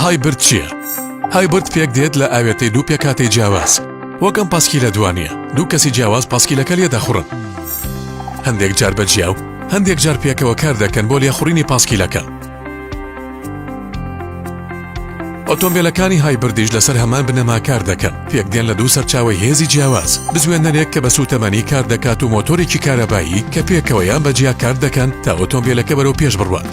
هایبرد چییە؟ هایبرد پێک دێت لە ئاوێتەی دوو پێکاتی جیاواز وەکەم پاسکیلە دوانە دوو کەسی جیاواز پاسکیلەکە لێ دەخڕن هەندێک جار بە جیاو هەندێک جار پێکەوە کار دەکەن بۆ لێخوڕینی پاسکیلەکە ئۆتۆمبیلەکانی هایبردیش لەسەر هەمان بنەما کار دەکەن پێکدێن لە دوو سەرچاوی هێزی جیاواز بزوێنەرێک کە بە سووتەمەنی کار دەکات و مۆتۆرێکی کارەبایی کە پێکەوەیان بەجیا کار دەکەن تا ئۆتۆمبیلەکە بەرەو پێش بڕوات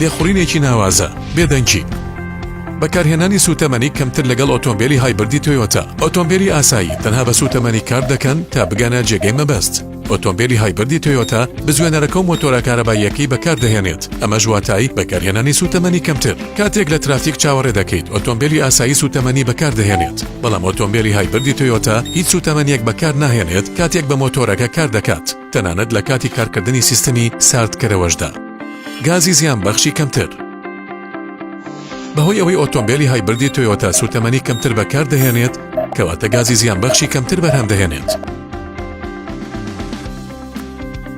لێخوڕینێکی ناوازە، بێدەنگی. بەکارهێنانی سووتەمەنی کەمتر لەگەڵ ئۆتۆمبێلی هایبردی تۆیۆتا. ئۆتۆمبێلی ئاسایی تەنها بە سووتەمەنی کار دەکەن تا بگەنە جێگەی مەبەست. ئۆتۆمبێلی هایبردی تۆیۆتا بزوێنەرەکە و مۆتۆرە کارەباییەکەی بەکاردەهێنێت، ئەمەش واتای بەکارهێنانی سووتەمەنی کەمتر. کاتێک لە ترافیک چاوەڕێ دەکەیت، ئۆتۆمبێلی ئاسایی سووتەمەنی بەکاردەهێنێت، بەڵام ئۆتۆمبێلی هایبردی تۆیۆتا هیچ سووتەمەنییەک بەکارناهێنێت کاتێک بە مۆتۆرەکە کار دەکات. تەنانەت لە کاتی کارکردنی سیستەمی ساردکەرەوەشدا. گازی زیانبەخشی کەمتر. بەهۆی ئەوەی ئۆتۆمبێلی هایبردی تۆیۆتا سووتەمەنی کەمتر بەکاردەهێنێت، کەواتە گازی زیانبەخشی کەمتر بەرهەم دەهێنێت.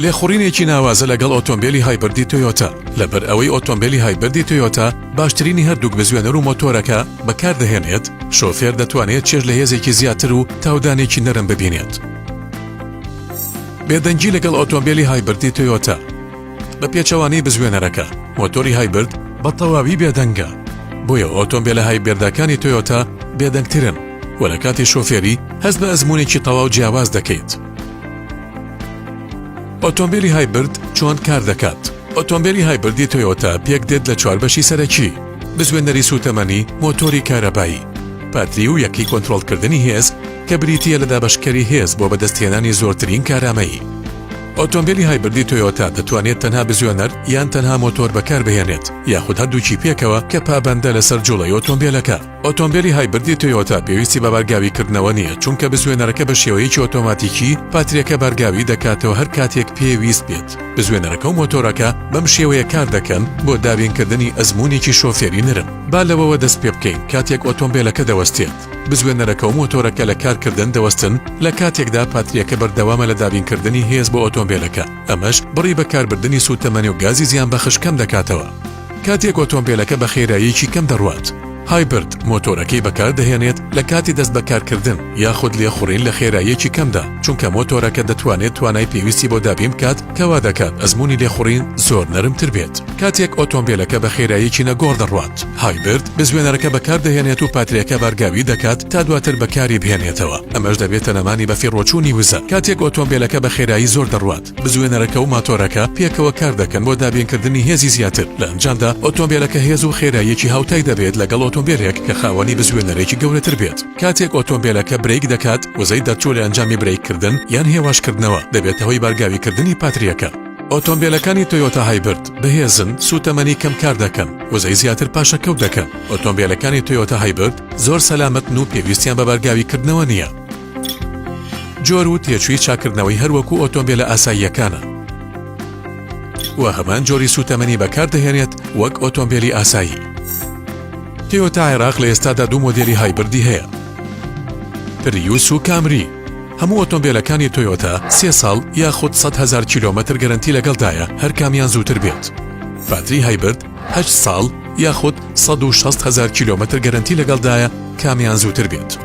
لێخوڕینێکی ناوازە لەگەڵ ئۆتۆمبێلی هایبردی تۆیۆتا، لەبەر ئەوەی ئۆتۆمبێلی هایبردی تۆیۆتا باشترینی هەردووک بزوێنەر و مۆتۆرەکە بەکاردەهێنێت، شۆفێر دەتوانێت چێژ لە هێزێکی زیاتر و تاودانێکی نەرم ببینێت. بێدەنگی لەگەڵ ئۆتۆمبێلی هایبردی تۆیۆتا بە پێچەوانەی بزوێنەرەکە مۆتۆری هایبرد بە تەواوی بێدەنگە بۆیە ئۆتۆمبێلە هایبێردەکانی تۆیۆتا بێدەنگترن و لە کاتی شۆفێری هەست بە ئەزمونێکی تەواو جیاواز دەکەیت ئۆتۆمبیلی هایبرد چۆن کار دەکات ئۆتۆمبیلی هایبردی تۆیۆتا پێک دێت لە چوار بەشی سەرەکی بزوێنەری سوتەمەنی مۆتۆری کارەبایی پاتری و یەکی کۆنتترۆلکردنی هێز کە بریتییە لە دابەشکەری هێز بۆ بەدەستهێنانی زۆرترین کارامەیی. ئۆتۆمبێلی هایبردی تۆیۆتا دەتوانێت تەنها بزوێنەر یان تەنها مۆتۆر بەکاربهێنێت یاخود هەردووکی پێکەوە کە پابەندە لەسەر جوڵەی ئۆتۆمبێلەکە. ئۆتۆمبێلی هایبردی تۆیۆتا پێویستی بە بارگاویکردنەوە نییە چونکە بزوێنەرەکە بە شێوەیەکی ئۆتۆماتیکی پاتریەکە بارگاوی دەکاتەوە هەر کاتێک پێ ویست بێت. بزوێنەرەکە و مۆتۆرەکە بەم شێوەیە کار دەکەن بۆ دابینکردنی ئەزموونێکی شۆفێری نەرم. با لەوەوە دەست پێ بکەین کاتێک ئۆتۆمبێلەکە دەوەستێت. بزوێنەرەکە و مۆتۆرەکە لە کارکردن دەوەستن، لە کاتێکدا پاترییەکە بەردەوامە لە دابینکردنی هێز بۆ ئۆتۆمبێلەکە، ئەمەش بڕی بەکاربردنی سووتەمەنی و گازی زیانبەخش کەم دەکاتەوە. کاتێک ئۆتۆمبێلەکە بە خێراییەکی کەم دەڕوات، هایبرد مۆتۆرەکەی بەکاردەهێنێت لە کاتی دەستبەکارکردن یاخود لێخوڕین لە خێراییەکی کەمدا، چونکە مۆتۆرەکە دەتوانێت توانای پێویستی بۆ دابین بکات، کە وا دەکات ئەزموونی لێخوڕین زۆر نەرمتر بێت. کاتێک ئۆتۆمبێلەکە بە خێراییەکی نەگۆڕ دەڕوات، هایبرد بزوێنەرەکە بەکاردەهێنێت و پاتریەکە بارگاوی دەکات تا دواتر بەکاری بهێنێتەوە، ئەمەش دەبێتە نەمانی بەفیڕۆچوونی وزە. کاتێک ئۆتۆمبێلەکە بە خێرایی زۆر دەڕوات، بزوێنەرەکە و ماتۆرەکە پێکەوە کاردەکەن بۆ دابینکردنی هێزی زیاتر، لە ئەنجامدا ئۆتۆمبێلەکە هێز و خێراییەکی هاوتای دەبێت لەگەڵ ئۆتۆمبێلێک کە خاوەنی بزوێنەرێکی گەورەتر بێت. کاتێک ئۆتۆمبێلەکە برەیک دەکات، وزەی دەرچوو لە ئەنجامی برەیککردن یان هێواشکردنەوە، دەبێتە هۆی بارگاویکردنی پاترییەکە. ئۆتۆمبێلەکانی تۆیۆتا هایبرد بەهێزن، سووتەمەنی کەم کار دەکەن، وزەی زیاتر پاشەکەوت دەکەن. ئۆتۆمبێلەکانی تۆیۆتا هایبرد زۆر سەلامەتن و پێویستیان بە بارگاویکردنەوە نییە. جۆر و تێچووی چاککردنەوەی هەر وەکوو ئۆتۆمبێلە ئاساییەکانە و هەمان جۆری سووتەمەنی بەکاردەهێنێت وەک ئۆتۆمبێلی ئاسایی. تۆیۆتا عێراق لە ئێستادا دوو مۆدێلی هایبردی هەیە پریوس و کامری هەموو ئۆتۆمبیلەکانی تۆیۆتا سێ ساڵ یاخود 100 هزار کیلومتر گەرنتی لەگەڵدایە هەر کامیان زووتر بێت باتری هایبرد هە ساڵ یاخود 1600 هزار کیلومتر گەرنتی لەگەڵدایە کامیان زووتر بێت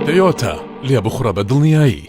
تۆیۆتا لێ بخڕە بە دڵنیایی